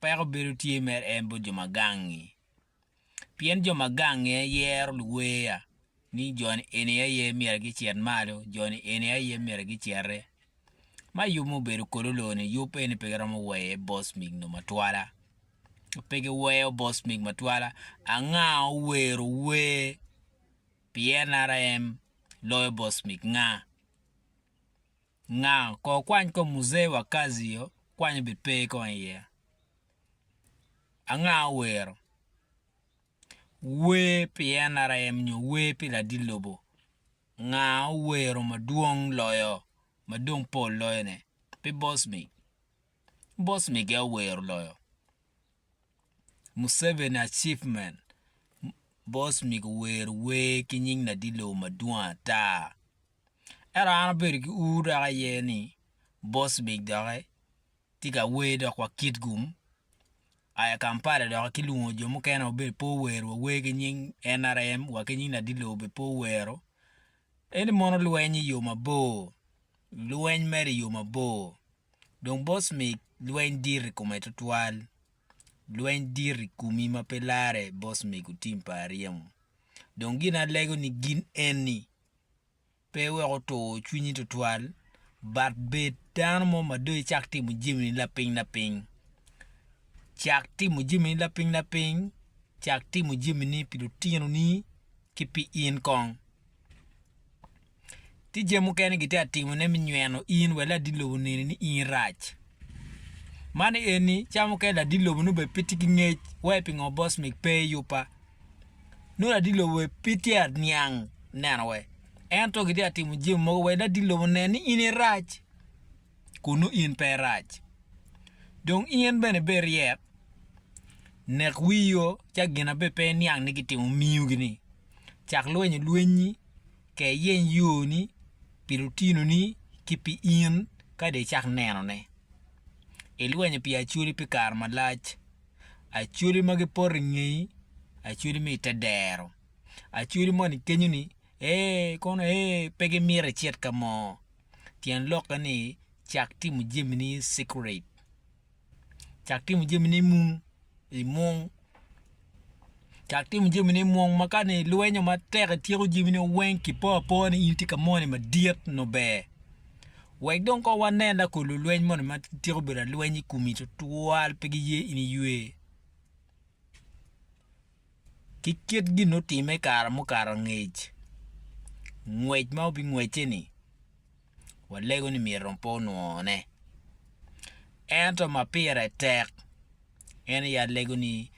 Peko bedo tye mere en bot jo ma gangi, pien jo ma gangi aye yero luweya, ni jo-ni eni aye myero gicit malo, jo-ni eni aye myero gicite. Ma yub mubedo kodi oloo-ni, yub eni pe giromo weye bos mig nongo matwala. Pe giweyo bos mig matwala. Anga owero wer pi NRM loyo bos mig? Nga? Nga kor kwany kom Muzee wa Kazi yo kwanyo be pe kong iye. Anga owero? Wer pi NRM nyo wer pi ladit lobo? Nga owero madwong loyo ma dong pol loyo ne? Pe boss mig. Boss mig aye owero loyo. Museveni achievement boss mig owero wer ki nying ladit lobo madwong ata. Ento an abedo ki ur dok aye ni Bosvik doki tye ka wer dok wa Kitgum aya Kampala doki kilwongo jo mukene wa bedo pe ower wa wer ki nying nrm wa ki nying Ladilo bene pe owero ento mono lweny iyo mabor lweny mere iyo mabor dong Bosvik lweny dit i kome twatwal lweny dit i komi ma pe lare Bosvik otim pa aryemo dong gin alego ni gin eni pe wek otur cwinyi tutwal, but bed dano mo ma dong icak timo jamini lapiny lapiny. Cak timo jamini lapiny lapiny, cak timo jamini pi lutinoni ki pi in kong. Tye jami mukene gitye ka timone me nyweno in wek ladit lobo oneni ni in rac. Man eni cawa mukene ladit lobo nongo bene pe tye ki ngec wai pingo boss meg pe yubba. nongo ladilo we pe tye ka niang neno we, ento gitye ka timo jami mogo wek ladilo onen ni in irac kun nongo in pe irac. Dong in bene bed ryek, nek wii yo ca gin ma bene pe iniang ni gitimo miyogini, cak lwenyo lwenyi, ke iyeny yoni pi lutinoni ki pi in ka dong icak nenone. Ilwenyo pi acwali pi kare malac. Acholi ma gipoto i ngeyi, acholi ma i te dero. Acholi moni kenyo-ni, Ee, kono ee, pe gimito icit ka mo. Tyen lokke ni, cak timo jamini i cikurate. Cak timo jamini i mung, i mung. Cak timo jami ni mung ma ka ni lwenyo ma tek i tyeko jami ni weng ki po apoa ni in ti ka moni ma dit no ber. Wek dong ko wa nen la ko lulweny moni ma tyeko bedo alweny i kumi tutwal pe gi ye in iywe. Ki kit gin no time kara mukato angec. Ngwec ma obi ngwece ni. walego ni myero pe onwone. Ento ma pire tek en aye alego ni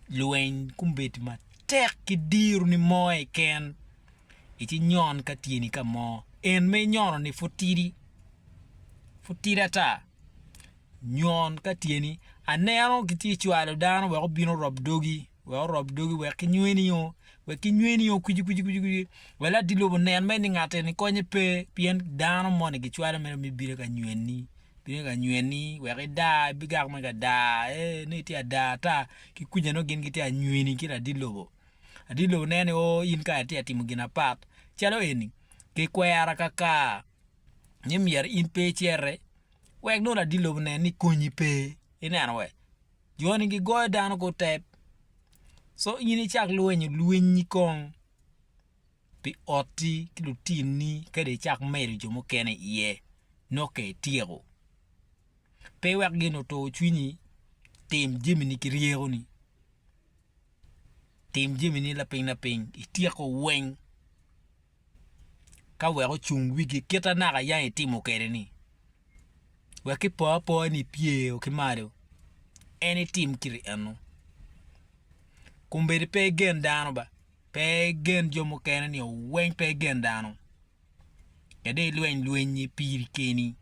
lweny kombeddi matek ki diro ni mo keken ci nyon ka tyeni ka mo en ma inyono-ni pud tidi, pud tidi ata. Nyon ka tye ni, aneno kitye cwalo dano wek obin orob dogi, wek orob dogi wek kinywe nio, wek kinywe nio kwici kwici kwici kwici, wek latir lobo onen mere ni ngat eni konye pe, pien dano moni gicwalo mere me bino ka nyweni, bino ka nyweni wek idar, ibigak mere ka dar, ee nongo itye ada ata, ki kwica nongo gin gitye ka nyweni ki ladir lobo, ladir lobo neno ni oo in kara itye ka timo gin apat, calo eni, kikwera kakar. ni myero in pe icere wek nongo ladi lobo nen ni konyi pe ineno we joni gigoyo dano ko tep so in icak lwenyo lwinyi kong pi otti ki lutinni ka dong icak medo jo mukene iye nongo ka ityeko pe iwek gin otur cwinyi tim jamini ki ryekoni tim jamini lapiny lapiny ityeko weng. ka wek ocung wigi kit ma naka yang itimo kwede-ni. Wek ki po apoya ni ipyeo ki malo, en itim kit ennu. Kombeddi pe igen dano ba, pe igen jo mukene nio weng pe igen dano. Kadi ilweny lwenyi piri keni.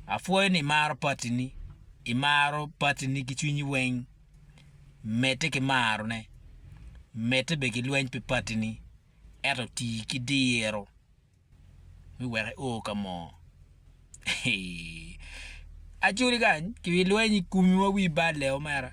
Apwoyo ni imaro patini, imaro patini ki cwinyi weng. Medde ki marone, medde bene ki lweny pi patini, ento ti ki diro ni wek io ka mo. Acwodi kany, ki lweny i komiwa wi balle omera.